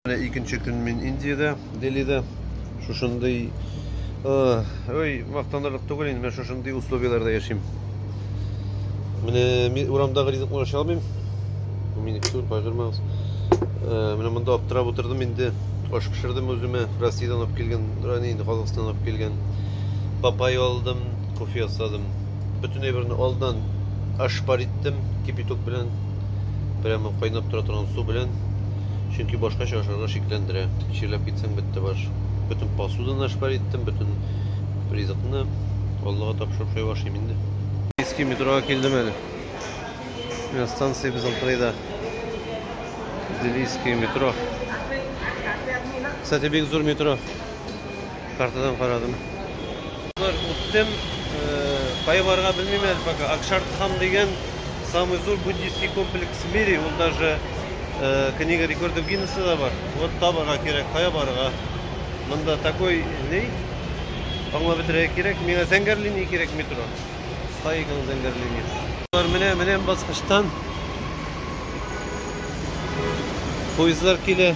Менә икенче көн мин Индиядә, Делида. Шушындый ой, мактанырлык түгел инде, менә шушындый условияләрдә яшим. Менә мин урамдагы ризыкны ашый алмыйм. Бу минеке түгел, кайгырмагыз. Менә монда аптырап утырдым инде. Аш пешердем үземә, Россиядән алып килгән, рани инде Казахстаннан алып килгән. Папай алдым, кофе ясадым. Бөтен әйберне алдан ашпар иттем кипяток белән. Прямо кайнап тора торган су белән. Чөнки башкача ашарга шикләндерә. Чирләп китсәң бетте баш. Бөтен посуданы ашпар иттем, бөтен ризыкны Аллага тапшырып шулай ашыйм инде. Иске метрога килдем әле. Менә станция безнең кырыйда. Делийский метро. Кстати, бик зур метро. Картадан карадым. Үттем, кая барырга белмим әле пока. Акшардхам дигән самый зур буддийский комплекс в мире, ул даже книга рекордов Гиннесса да бар. Вот табарга кирәк, кая барырга? Монда такой ни? Аңлап бетерергә кирәк. Миңа зәңгәр линия кирәк метро. Стайгал зәңгәр линиясе. Алар менә менә баскычтан поездлар килә.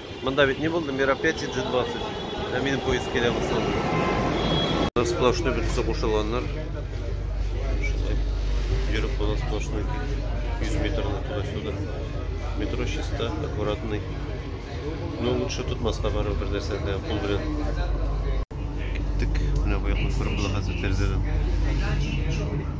Монда бит ни булды? Мероприятие G20. Ә минем поезд килә булсын. Монда сплошной бөтенесе кушылганнар. Йөреп була сплошной 100 метрны туда-сюда. Метро чиста, аккуратный. Ну, лучше тотмаска бару бер нәрсәдә кул белән. Киттек. Менә бу якны күреп була хәзер тәрәзәдән.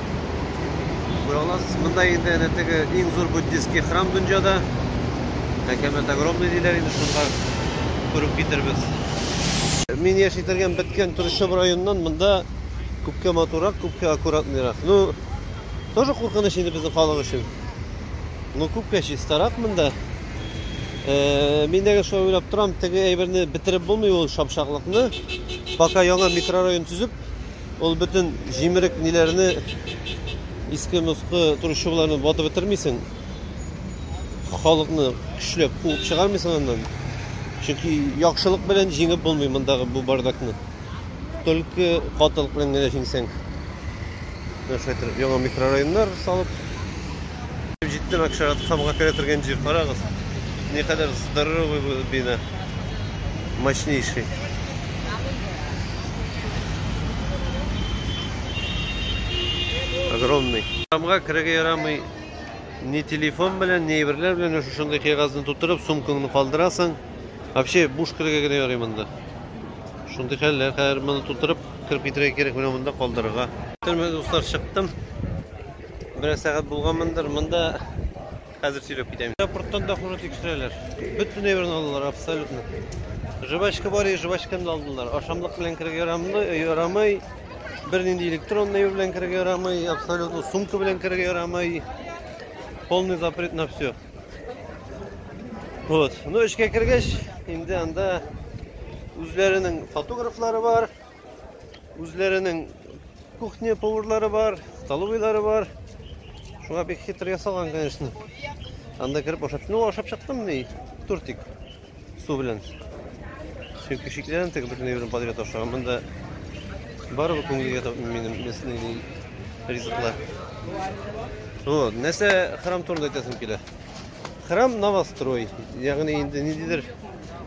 Күрә аласыз, монда инде әнә теге иң зур буддистский храм дөньяда. Әкәмәт огромный диләр инде шунда күреп китербез. Мин яши торган беткән Трущоб районыннан монда күпкә матурак, күпкә аккуратныйрак. Ну, тоже куркыныч инде безнең халык өчен. Ну, күпкә чистарак монда. Э, мин дә шулай уйлап торам, теге әйберне бетереп булмый ул шапшаклыкны. Пока яңа микрорайон төзеп, Ул бөтен җимерек ниләрне иске мускы турышчыларны батып бетермисең. Халыкны көчләп куып чыгармыйсың аннан. Чөнки яхшылык белән җиңеп булмый мондагы бу бардакны. Только катылык белән генә җиңсәң. Нәрсәдер яңа микрорайоннар салып җиттем Акшарат хамга керә торган җир. Карагыз. Никадәр здоровый бу бина. Мощнейший. Огромный. Тамга кереге ярамый. Ни телефон белән, ни әйберләр белән менә шушындый кәгазьне тутырып, сумкаңны калдырасың. Вообще буш кереге генә ярый монда. Шундый хәлләр, хәзер моны тутырып кырып китерергә кирәк менә монда калдырырга. Төрмә дуслар чыктым. Бераз сәгать булганмындыр. Монда Хәзер сөйләп китәм. Аэропорттан да хуже тикшерәләр. Бөтен әйберне алдылар абсолютно. Жвачка бар, и жвачканы да алдылар. Ашамлык белән керергә ярамлы, ярамый. Бернинди электронный әйбер белән керергә ярамый, абсолютно сумка белән керергә ярамый. Полный запрет на все. Вот. Ну, эшкә кергәч, инде анда үзләренең фотографлары бар. Үзләренең кухня поварлары бар, столовыйлары бар. Шуңа бик хитр ясалган, конечно. Анда кереп ашап, ну ашап чыктым ни, тортик су белән. Чөнки көчекләрен тек бөтен җирен подряд аша. Монда барыбы күңелгә тап минем местный ризыклар. Вот, нәрсә храм турында әйтәсем килә. Храм новострой, ягъни инде ниндидер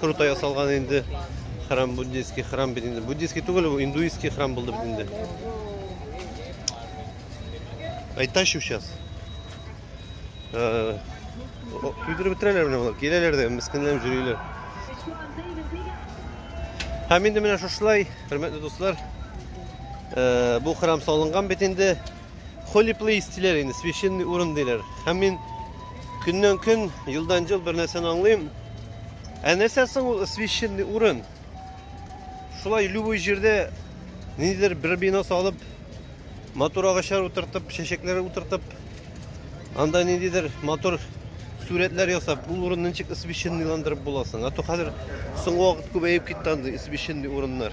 Круто ясалган инде храм буддийский храм бит инде. Буддийский түгел бу, индуистский храм булды бит инде. Айташу сейчас. Э, Көйдереп бетерәләр менә болар. Киләләр дә мескенләнеп йөриләр. Һәм инде менә шушылай, хөрмәтле дуслар, э, бу храм салынган бит инде. Holy place диләр инде, священный урын диләр. Һәм мин көннән көн, елдан ел бер нәрсәне аңлыйм. Ә нәрсә соң ул священный урын? Шулай любой җирдә ниндидер бер бина салып, матур агачлар утыртып, чәчәкләр утыртып, анда ниндидер матур сурәтләр ясап, ул урынны ничек священныйландырып буласың? А то хәзер соңгы вакыт күбәеп китте андый священный урыннар.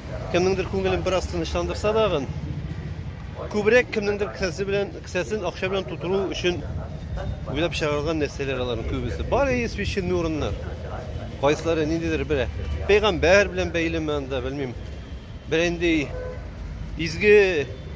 кемнеңдер күңелен бераз тынычландырса дагын, күбрәк кемнеңдер кесәсе белән, кесәсен акча белән тутыру өчен уйлап чыгарылган нәрсәләр аларның күбесе. Бар и священный урыннар. Кайсылары ниндидер бер пәйгамбәр белән бәйлеме анда, белмим. Бер инде изге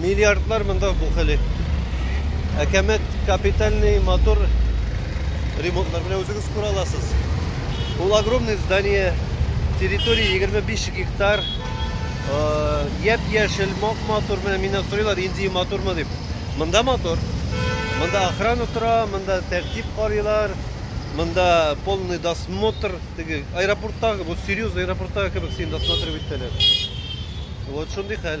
Миллиардлар монда бухали. Әкәмәт капитальный мотор ремонтлар белән үзегез күрә аласыз. Ул огромный здание, территория 25 гектар, яп-яшел, мак-матур, менә мине сорыйлар, инди матурмы дип. Монда мотор. Монда охрана тора, монда тәртип карыйлар, монда полный досмотр, теге аэропорттагы, бу серьезный аэропорттагы кебек син досмотр итәләр. Вот шундый хәл.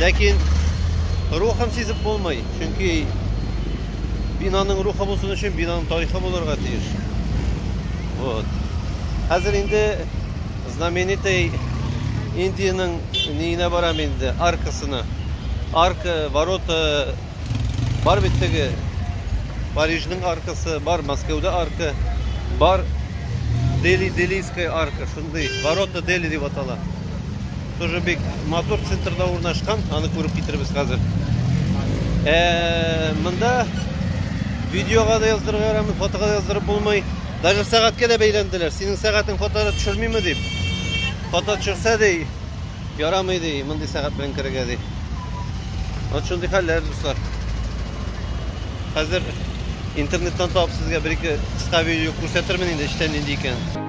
Ләкин рухын сизеп булмый, чөнки бинаның рухы булсын өчен бинаның тарихы булырга тиеш. Вот. Хәзер инде знаменитый Индиянең ниенә барам инде, аркасына. Арка, ворота бар бит теге Парижның аркасы, бар Мәскәүдә арка, бар Дели Делийская арка, шундый ворота Дели дип атала. Тоже бик матур центрда урнашкан, аны күреп китербез хәзер. Э, монда видеога да яздырырга ярамый, фотога да яздырып булмый. Даже сәгатькә дә бәйләнделәр. Синең сәгатең фотога төшермиме дип. Фото төшерсә ди, ярамый ди, мондый сәгать белән керергә ди. Вот шундый хәлләр, дуслар. Хәзер интернеттан табып сезгә бер-ике кыска видео күрсәтермен инде, эчтән нинди икән.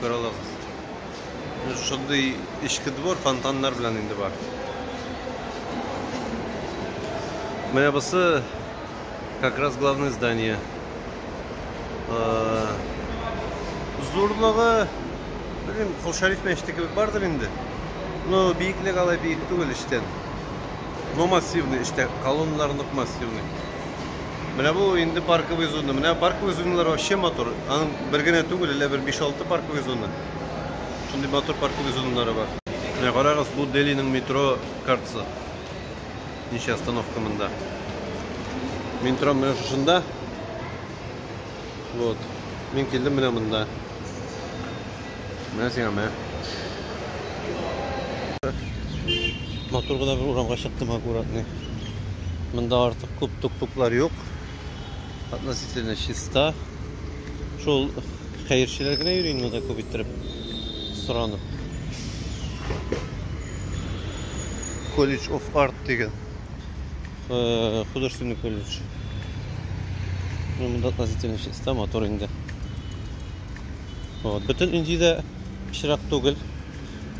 Күралыгыз. Менә шундый эчке двор фонтаннар белән инде бар. Менә бусы как раз главное здание. Э, Зурлыгы, белмим, Кол Шәриф мәчете кебек бардыр инде. Но биеклек алай биек түгел эчтән. Но массивный эчтә, колонналар нык массивный. Менә бу инде парковый зона. Менә парковый зоналар вообще матур. Аның бер генә түгел, әллә бер 5-6 парковый зона. Шундый матур парковый зоналары бар. Менә карагыз, бу Делиның метро картасы. Ничә остановка монда. Метро менә шушында. Вот. Мин килдем менә монда. Менә сиңа менә. Матур гына бер урамга чыктым аккуратный. Монда артык күп тук-туклар юк. Относительно чиста. Шул хәерчеләр генә йөри монда күп иттереп соранып. College of Art дигән. э, художественный колледж. Ну, монда относительно чиста, мотор инде. Вот. Бөтен Индиядә пычрак түгел.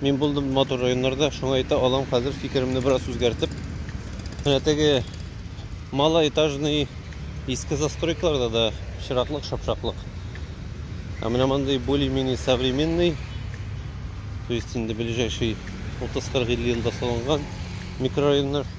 Мин булдым мотор районнарда, шуңа әйтә алам хәзер фикеремне бераз үзгәртеп. Менә теге малоэтажный иске застройкаларда да пычраклык, шапшаклык. А менә мондый более-менее современный, то есть инде ближайший 30-40 елда салынган микрорайоннар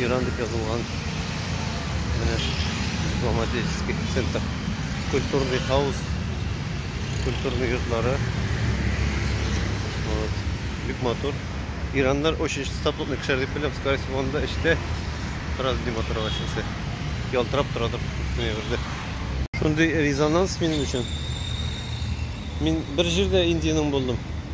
Иран дип язылган. Менә дипломатический центр. Культурный хаус. Культурный йортлары. Вот. Бик матур. Ираннар очень статусный кешеләр дип беләм. Скорее всего, анда эштә раз ди матур ачылса. Ялтырап торадыр күпме бердә. Шундый резонанс минем өчен. Мин бер җирдә Индиянең булдым.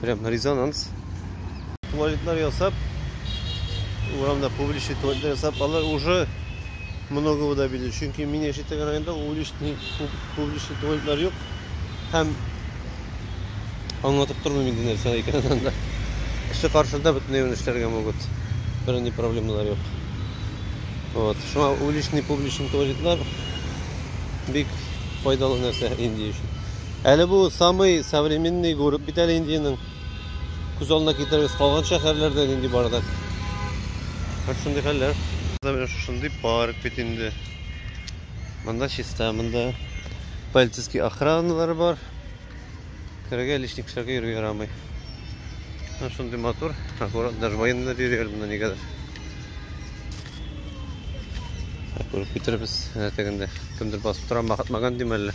Прям резонанс. Туалетлар ясап, урамда публичный туалетлар ясап, алар уже много вода бирде. Чөнки мин яшәгән районда уличный публичный туалетлар юк. Һәм аңлатып тормыйм инде нәрсә икәнен анда. Кеше каршында бөтенләй генә эшләргә могут. Бернинди проблемалар юк. Вот. Шуңа уличный публичный туалетлар бик файдалы нәрсә Индия өчен. Әле бу самый современный город бит әле Индиянең. Күз алдына китерегез, калган шәһәрләрдә нинди бар да. Һәм шундый хәлләр. Менә шушындый парк бит инде. Монда чиста, монда полицейский охраналары бар. Керергә лишний кешеләргә йөрергә ярамый. Һәм шундый матур, аккурат, даже военныйлар йөри әле монда нигәдер. Күреп китеребез, әтәгендә кемдер басып тора, Махатмаган димәлле.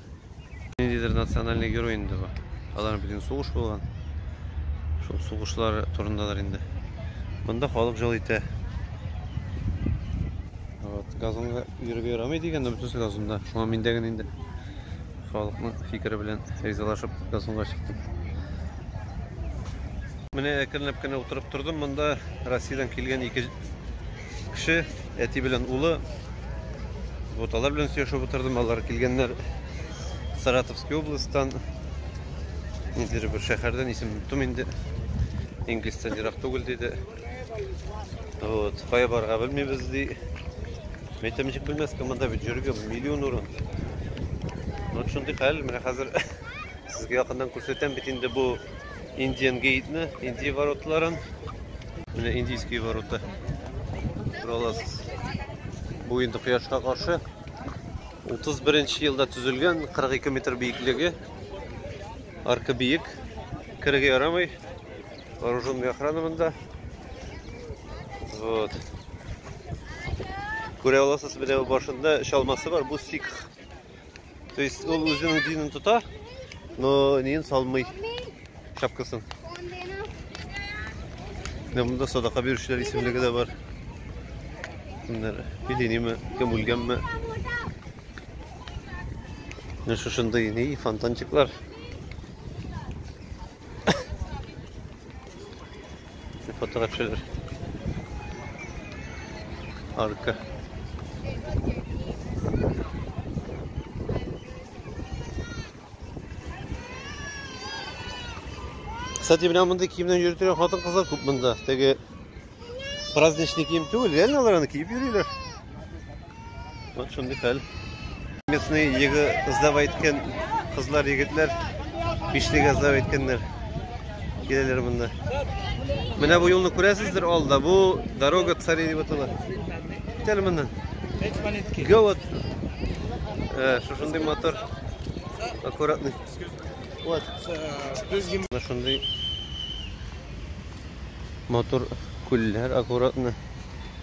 Ниндидер национальный герой инде бу. Аларның бит инде сугыш булган. Шул сугышлар турындадыр инде. Монда халык жыл итә. Вот, газонга йөреп ярамый дигән, но бөтенесе газонда. Шуңа мин дә генә инде халыкның фикере белән ризалашып газонга чыктым. Менә әкренләп кенә утырып тордым. Монда Россиядән килгән ике кеше, әти белән улы. Вот алар белән сөйләшеп утырдым. Алар килгәннәр Саратовский областьтан. Ниндидер бер шәһәрдән исем оттым инде. Инглистән ерак түгел диде. Вот, кая барырга белмибез ди. Мен әйтәм, ничек белмәскә, монда бит йөрергә миллион урын. Вот шундый хәл, менә хәзер сезгә якыннан күрсәтәм бит инде бу Индиан гейтны, Индия воротларын. Менә индийский ворота. Шуралас. Бу инде кояшка каршы. 31 нче елда төзелгән, 42 метр биеклеге. Арка биек. Кереге ярамый. Вооруженный охрана монда. Вот. Күрә аласыз, менә башында чалмасы бар. Бу сикх То есть ул үзенең динен тота, но нин салмый шапкасын. Менә монда садака бирүчеләр исемлеге дә бар. Кемнәр? Билениме, кем үлгәнме? Менә шушындый ни фонтанчиклар. Фотога төшәләр. Арка. Кстати, менә мондый киемнән йөреп торган хатын-кызлар күп монда. Теге праздничный кием түгел, реально алар аны киеп йөриләр. Вот шундый хәл. Местный егы кызлар әйткән, кызлар егетләр бишле газлар әйткәннәр. Киләләр монда. Менә бу юлны күрәсездер алда. Бу дорога цари дип атала. Китәле моннан. Гә вот. Э, шушындый мотор. Аккуратный. Вот. Э, шундый мотор күлләр аккуратно.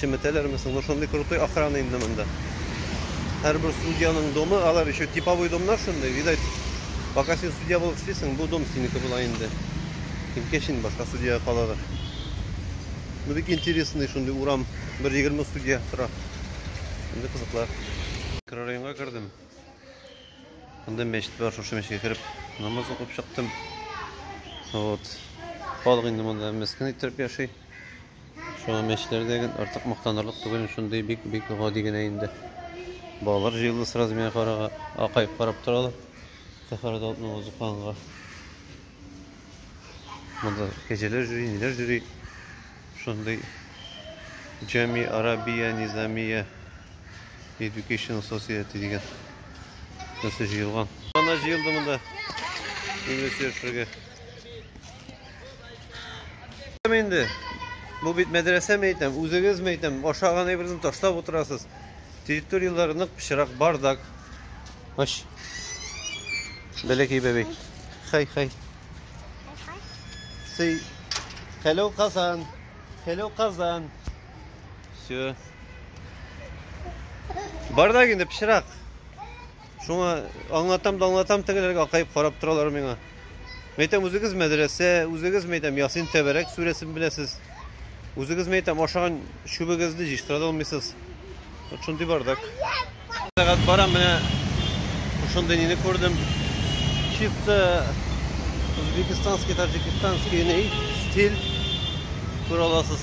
Чеметәләрме соң? Ну шундый крутой охрана инде монда. Һәрбер судьяның домы, алар еще типовой домнар шундый, видать. Пока син судья булып эшлисең, бу дом синеке була инде. Кимгә шин башка судьяга калалар. Ну бик интересный шундый урам, бер 20 судья тора. Инде кызыклар. Микрорайонга кердем. Монда мәчет бар, шушы мәчеткә кереп намаз укып чыктым. Вот. Халык инде монда мескен иттереп яши. Шуңа мәчләрдә гел артык мактанырлык түгел, шундый бик-бик гади генә инде. Балалар җыелды сразу миңа карага, акаеп карап торалар. Сәхәрә дә атны узыкканга. Монда кәҗәләр жюри, ниләр жюри. Шундый Джами Арабия Низамия Education Society дигән. Нәрсә җыелган. Ана җыелды монда. Инглиз сөйләшергә. Инде бу бит мәдрәсәме әйтәм, үзегезме әйтәм, ашаган әйберне ташлап утырасыз. Территорияләре нык пычрак, бардак. Аш. Бәләкәй бәби. Хай, хай. Сый. Hello Kazan. Hello Kazan. Все. Бардак инде пычрак. Шуңа аңлатам да аңлатам, тегеләргә акаеп карап торалар миңа. Мәйтәм, үзегез мәдрәсә, үзегез мәйтәм Ясин тәбәрәк сүрәсен беләсез. Үзегез мәйтәм ашаган чүбегезне җыштыра алмыйсыз. Вот шундый бардак. Сәгать бара менә шундый нине күрдем. Чисто Узбекистанский, таджикистанский стиль күрә аласыз.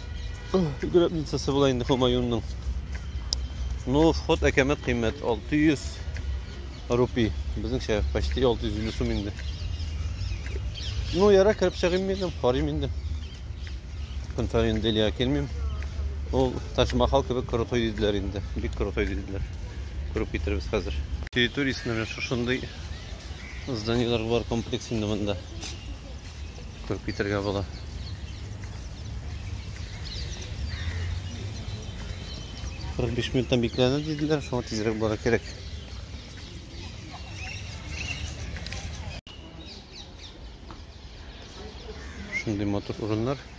Грабницасы була инде Хомаюнның. Ну, вход әкәмәт кыйммәт 600 рупи. Безнеңчә почти 650 сум инде. Ну, яра кереп чыгыйм мин, карыйм инде. Көн саен Делия килмим. Ул Ташмахал кебек крутой диделәр инде. Бик крутой диделәр. Күреп китербез хәзер. Территориясендә шушындый зданиеләр бар комплекс инде монда. Күреп китергә була. Кырык биш минуттан бикләнә диделәр, шуңа тизрәк бара кирәк. Шундый матур урыннар.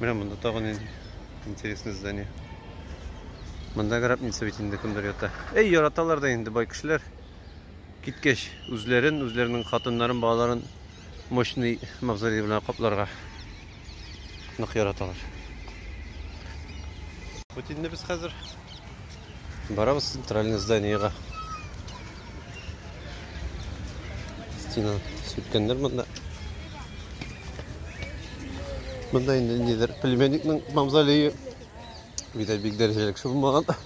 Менә монда тагы нинди интересный здание. Монда гробница бит инде кемдер ята. Эй, яраталар да инде бай кешеләр. Киткәч, үзләрен, үзләренең хатыннарын, балаларын мощный мавзолей белән капларга нык яраталар. Вот инде без хәзер Барабыз центральный зданиега. Стена сүткәннәр монда. Монда инде нидер племянникның мавзолее. Бит бик дәрәҗәле кеше булмаган.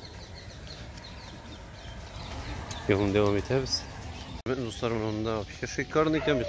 Юлны дәвам итәбез. Дуслар, монда вообще шикарный икән бит.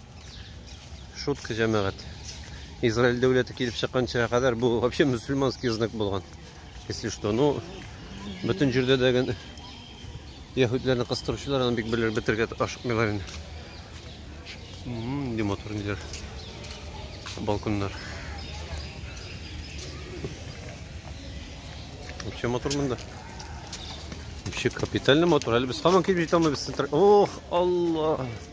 Шутка җәмәгать. Израиль дәүләте килеп чыкканча кадәр бу вообще мусульманский знак булган. Если что, ну бөтен җирдә дә ген яһүдләрне кыстыручылар аны бик белер бетергә ашыкмыйлар инде. Нинди матур ниләр. Балконнар. Вообще матур монда. Вообще капитально матур. Әле без һаман килеп җитә алмыйбыз. Ох, Алла.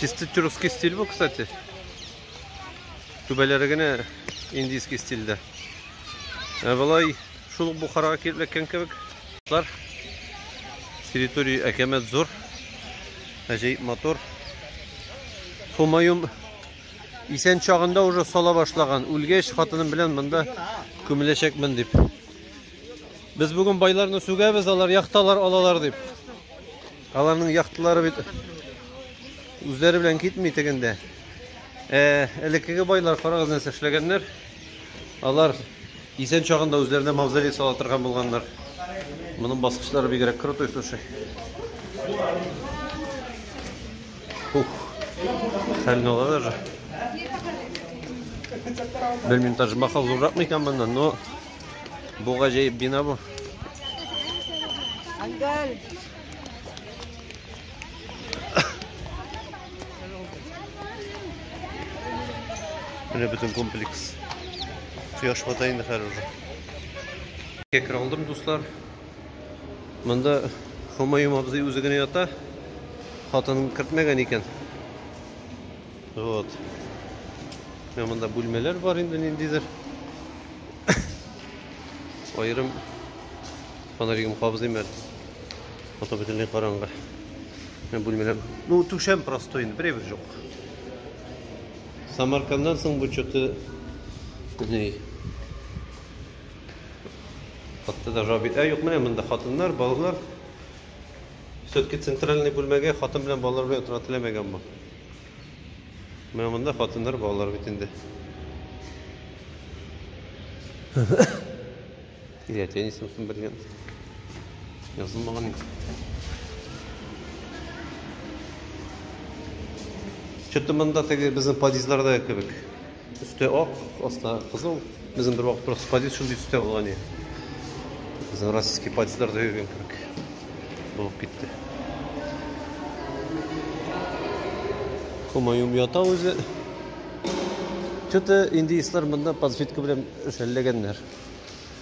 Чисто тюркский стиль бу, кстати. Түбәләре генә индийский стильдә. Ә болай шул ук Бухарага килеп эләккән кебек. Территория әкәмәт зур. Әҗәеп мотор. Хумаюм исән чагында уже сала башлаган. Үлгәч хатыным белән монда күмеләчәкмен дип. Без бүген байларны сүгәбез, алар яхталар алалар дип. Аларның яхталары бит үзләре белән китми тегендә. Э, элеккеге байлар карагыз нәрсә эшләгәннәр. Алар исән чагында үзләренә мавзолей сала торган булганнар. Моның баскычлары бигрәк крутой, слушай. Ух. Хәлне ала даже. Белмим, даже махал зурракмы икән моннан, но Бу гаҗәеп бина бу. Ангел. Менә бөтен комплекс. Кояш бата инде хәзер уже. Кекер алдым, дуслар. Монда Хомаем абзый үзе генә ята. Хатынын кертмәгән икән. Вот. Менә монда бүлмәләр бар инде ниндидер. Аерым фонаригым кабызыйм әле. Фото бөтенләй караңгы. Менә бүлмәләр. Ну, түшәм простой инде, берәй бер жоқ. Самарканнан соң бу что-то не Хатта даже аби. Ә юк, менә монда хатыннар, балалар. Все-таки центральный бүлмәгә хатын белән балалар белән утыра теләмәгән бу. Менә монда хатыннар балалар бит инде. Ирә теннисым кем белгән? Язылмаган инде. Что-то монда теге безнең подъездларда кебек. Өсте ак, аста кызыл. Безнең бер вакыт просто подъезд шундый төстә булган иде. Безнең российский подъездларда йөргән кебек булып китте. Хомаюм ята үзе. Что-то индеецлар монда подсветка белән шәлләгәннәр.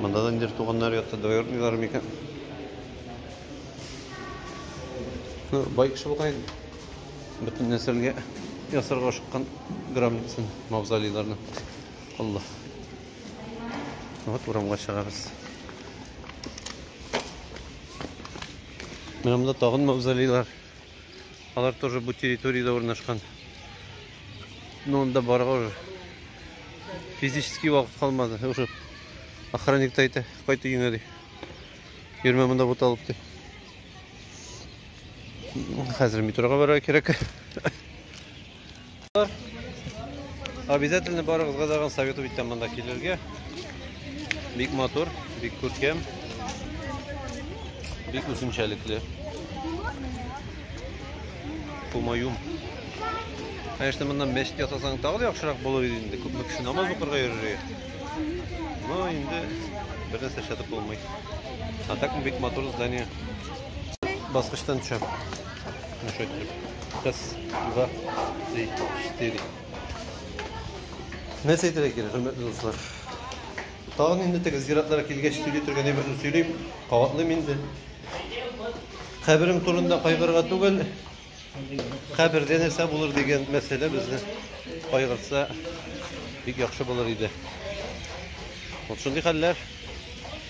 Монда да ниндидер туганнар ятты, двоюродныйлар микән? Ну, бай кеше булган инде. Бөтен нәселгә ясарга ашыккан гробница, мавзолейларны. Алла. Вот урамга чыгабыз. Менә монда тагын мавзолейлар. Алар тоже бу территорияда урнашкан. Но анда барга уже физически вакыт калмады. Уже охранник та әйтә, кайт өеңә ди. Йөрмә монда бут алып ди. Хәзер метрога барырга кирәк. Обязательно барыгызга дагын совет итәм монда килергә. Бик матур, бик күркәм. Бик үзенчәлекле. Кумаюм. Конечно, моннан мәчет ясасаң тагы да яхшырак булыр иде инде. Күпме кеше намаз укырга йөрер. Но инде бер нәрсә эшләтеп булмый. А так бик матур здание. Баскычтан төшәм. Ну что теперь? Раз, два, три, четыре. Нәрсә әйтергә кирәк, хөрмәтле дуслар? Тагын инде теге зиратлар килгәч сөйли торган әйберне сөйлим, кабатлыйм инде. Каберем турында кайгырга түгел, кабердә нәрсә булыр дигән мәсьәлә безне кайгыртса бик яхшы булыр иде. Вот шундый хәлләр.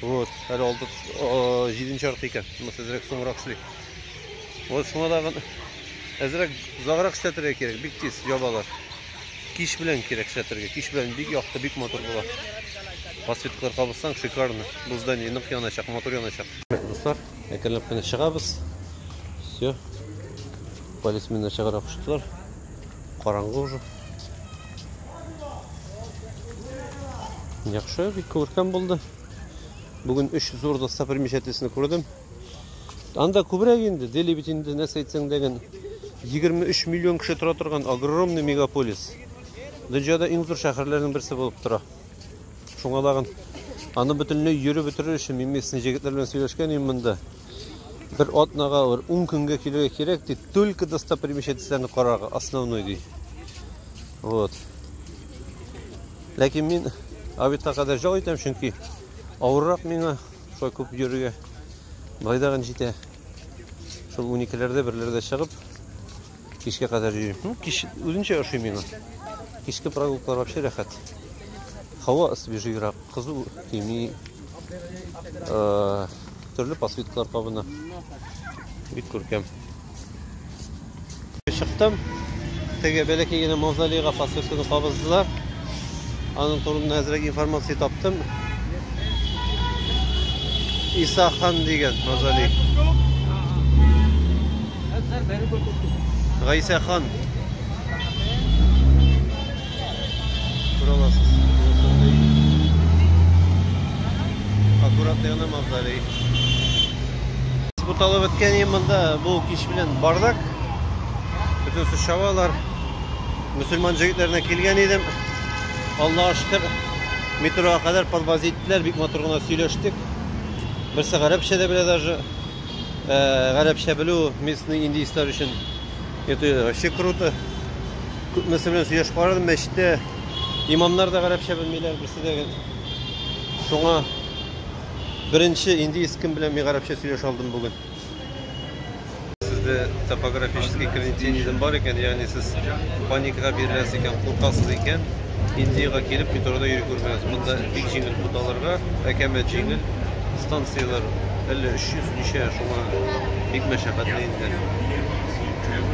Вот, әле алды җиденче арка икән. Монысы әзрәк соңрак эшли. Вот шуңа тагын әзрәк озаграк эшләтергә кирәк, бик тиз ябалар. Кич белән кирәк эшләтергә. Кич белән бик якты, бик матур була. Подсветкалар кабызсаң, шикарно. Бу здание нык яначак, матур яначак. Дуслар, әкренләп кенә чыгабыз. Все. Полисменнар чыгарга куштылар. Караңгы уже. Яхшы, бик күркәм булды. Бүген өч зур достопримечательностьны күрдем. Анда күбрәк инде, Дели бит инде нәрсә әйтсәң дә 23 миллион кеше тора торган огромный мегаполис. Дөньяда иң зур шәһәрләрнең берсе булып тора. Шуңа лагын аны бөтенләй йөреп бетерер өчен мин местный җегетләр белән сөйләшкән идем монда. Бер атнага, бер ун көнгә килергә кирәк, ди, только достопримечательностьләрне карарга, основной, ди. Вот. Ләкин мин обедка кадәр җал итәм, чөнки авыррак миңа, шулай күп йөрергә. Байдагын җитә. Шул уникеләрдә, берләрдә чыгып, Кичкә кадәр йөрим. Ну, кич үзенчә ошый миңа. Кичке прогулкалар вообще рәхәт. Һава свежийрак, кызу тими. Э, төрле посветкалар кабына. Бик күркәм. Чыктым. Теге бәләкәй генә мавзолейга посветканы кабыздылар. Аның турында әзрәк информация таптым. Иса хан дигән мавзолей. Гайсә хан. Күрәләсез. Аккуратный гына мавзолей. Буталып беткән монда бу кич белән бардак. Бөтен чабалар. Мөселман җегетләренә килгән идем. Аллага шөкер, метрога кадәр подвоз иттеләр, бик матур гына сөйләштек. Берсе гарәпчә дә белә даже. Э, гарәпчә белү местный индийцлар өчен это вообще круто. Күпмесе белән сөйләшеп карадым, мәчеттә имамнар да гарәпчә белмиләр, берсе дә гел. Шуңа беренче индиец кем белән мин гарәпчә сөйләшә алдым бүген. Сездә топографический кавентинизм бар икән, ягъни сез паникага биреләсез икән, куркасыз икән, Индиягә килеп метрода йөри күрмәгез. Монда бик җиңел путаларга, әкәмәт җиңел, станцияләр әллә 300 ничә, шуңа бик мәшәкатьле инде.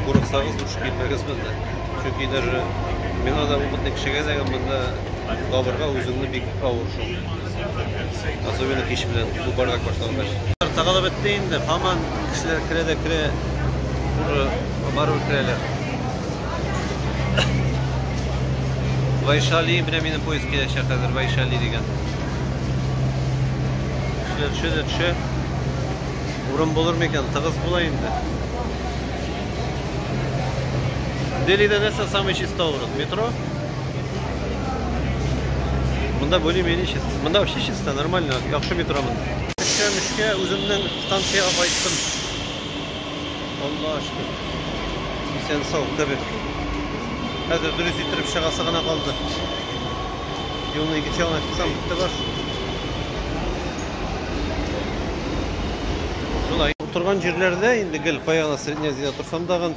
Курыксагыз, душ килмәгез монда. Чөнки даже миңа да опытный кешегә дә монда табырга үзеңне бик авыр шул. Особенно кич белән бу бардак башлангач. Тагалап бетте инде, һаман кешеләр керә дә керә. Барып керәләр. Вайшали, менә минем поезд киләчәк хәзер, Вайшали дигән. Кешеләр төшә дә төшә. Урын булыр микән? Тыгыз була инде. Делида нәрсә самый чиста урын? Метро? Монда более-менее чисто. Монда вообще чисто, нормально, яхшы метро монда. Эшкә-мешкә үземнең станциягә кайттым. Алла ашкы. Исән сау, табиб. Хәзер дөрес иттереп чыгасы гына калды. Юлны икенче ягына чыксам, бетте бар. Шулай. Утырган җирләрдә инде гел кая гына средняя азияда торсам дагын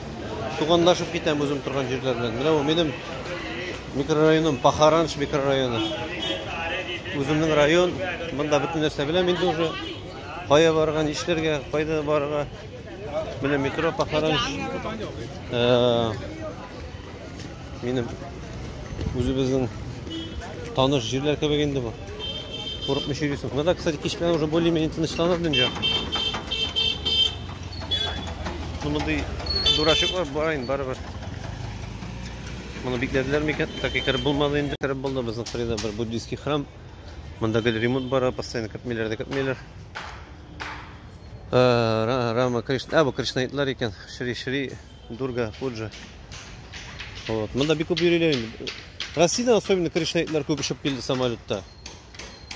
Туганлашып китәм үзем торган җирләр белән. Менә бу минем микрорайоным Пахаранш микрорайоны. Үземнең район, монда бөтен нәрсә беләм инде уже. Кая барырга, нишләргә, кайда барырга. Менә метро Пахаранш. Э, Минем үзебезнең таныш җирләр кебек инде бу. Курыкмый йөрисең. Менә дә, кстати, кич белән уже более-менее тынычланып дөнья. Ну, мондый дурачоклар бар инде барыбер. Моны бикләделәр микән? Так икәр булмады инде. Кереп булды безнең Фрида бер буддийский храм. Монда гел ремонт бара, постоянно кертмиләр дә кертмиләр. Э, Рама Кришна, а бу Кришнаитлар икән. Шри Шри Дурга, Пуджа. Вот. Монда бик күп йөриләр инде. Россиядә особенно кришнаитлар күп очып килде самолетта.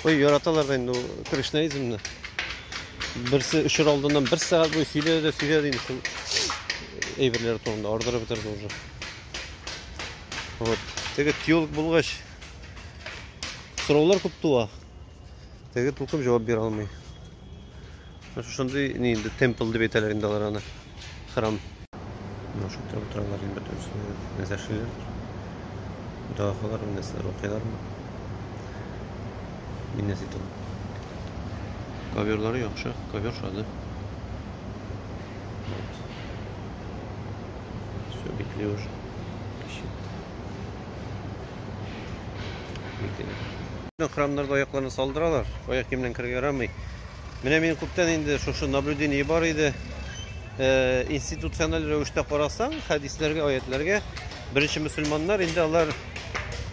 Ой, яраталар да инде кришнаизмны. Берсе өчер алдыннан бер сәгать буе сөйләде, сөйләде инде шул әйберләр турында ардырып бетерде уже. Вот. Теге тюлк булгач сораулар күп туа. Теге тулкым җавап бирә алмый. Шушындый ни инде темпл дип әйтәләр инде алар аны. Храм. Менә шул тирәдә утыралар инде бөтенесе. Нәрсә эшлиләр? Дога кылалар, нәрсәләр укыйлармы? Мин нәрсә әйтәм? Коверлары яхшы, ковер шады. Вот. Все, битли уже. Кеше. Битли. Храмнарда аякларны салдыралар. Аяк киемнән керергә ярамый. Менә мин күптән инде шушы наблюдение бар иде. Э, институциональ рәвештә карасаң, хәдисләргә, аятләргә беренче мусульманнар инде алар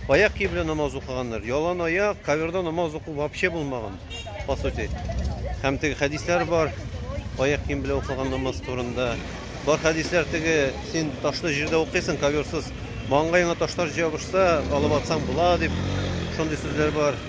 аяк киеп белән намаз укыганнар. Ялан аяк, каверда намаз уку вообще булмаган, по сути. Һәм теге хәдисләр бар, аяк кием белән укыган намаз турында. Бар хәдисләр теге син ташлы җирдә укыйсың, каверсыз. Маңгаеңа ташлар җабышса, алып атсаң була дип шундый сүзләр бар.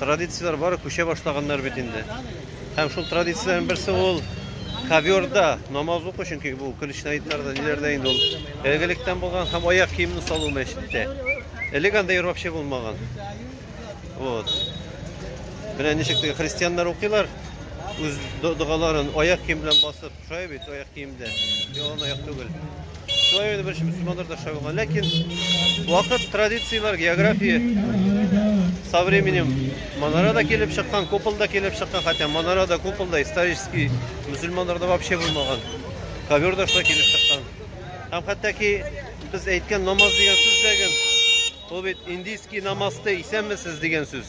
Традицияләр бары күчә башлаганнар бит инде. Һәм шул традицияләрнең берсе ул ковёрда намаз уку, чөнки бу көлешнәйтләрдә, ниләрдә инде ул элгелектән булган һәм аяк киемне салу мәчеттә. Элек анда йөр вообще булмаган. Вот. Менә ничек теге христианнар укыйлар үз догаларын аяк кием белән басып. Шая бит аяк киемдә. Ялан аяк түгел. Шая бит беренче мөселманнар да шая булган. Ләкин вакыт, традицияләр, география со временем манара да килеп чыккан, купол да килеп чыккан, хотя манара да купол да исторический мөселманнарда вообще булмаган. Ковер да шулай килеп чыккан. Һәм хәтта ки без әйткән намаз дигән сүз дә ул бит индийский намазты исәнмесез дигән сүз.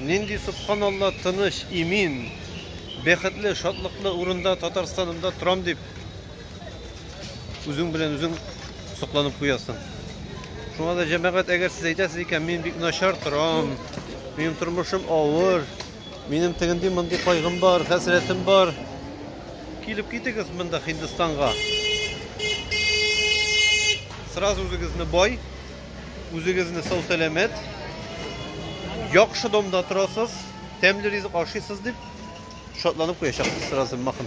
Нинди субханалла тыныч, имин, бәхетле, шатлыклы урында Татарстанымда торам дип үзең белән үзең сокланып куясың. Шуңа да җәмәгать, әгәр сез әйтәсез икән, мин бик начар торам, минем тормышым авыр, минем тегенди мондый кайгым бар, хәсрәтем бар. Килеп китегез монда Һиндстанга. Сразу үзегезне бай Үзегезне сау-сәламәт, яхшы домда торасыз, тәмле ризык ашыйсыз дип шатланып куячакбыз сразу махын.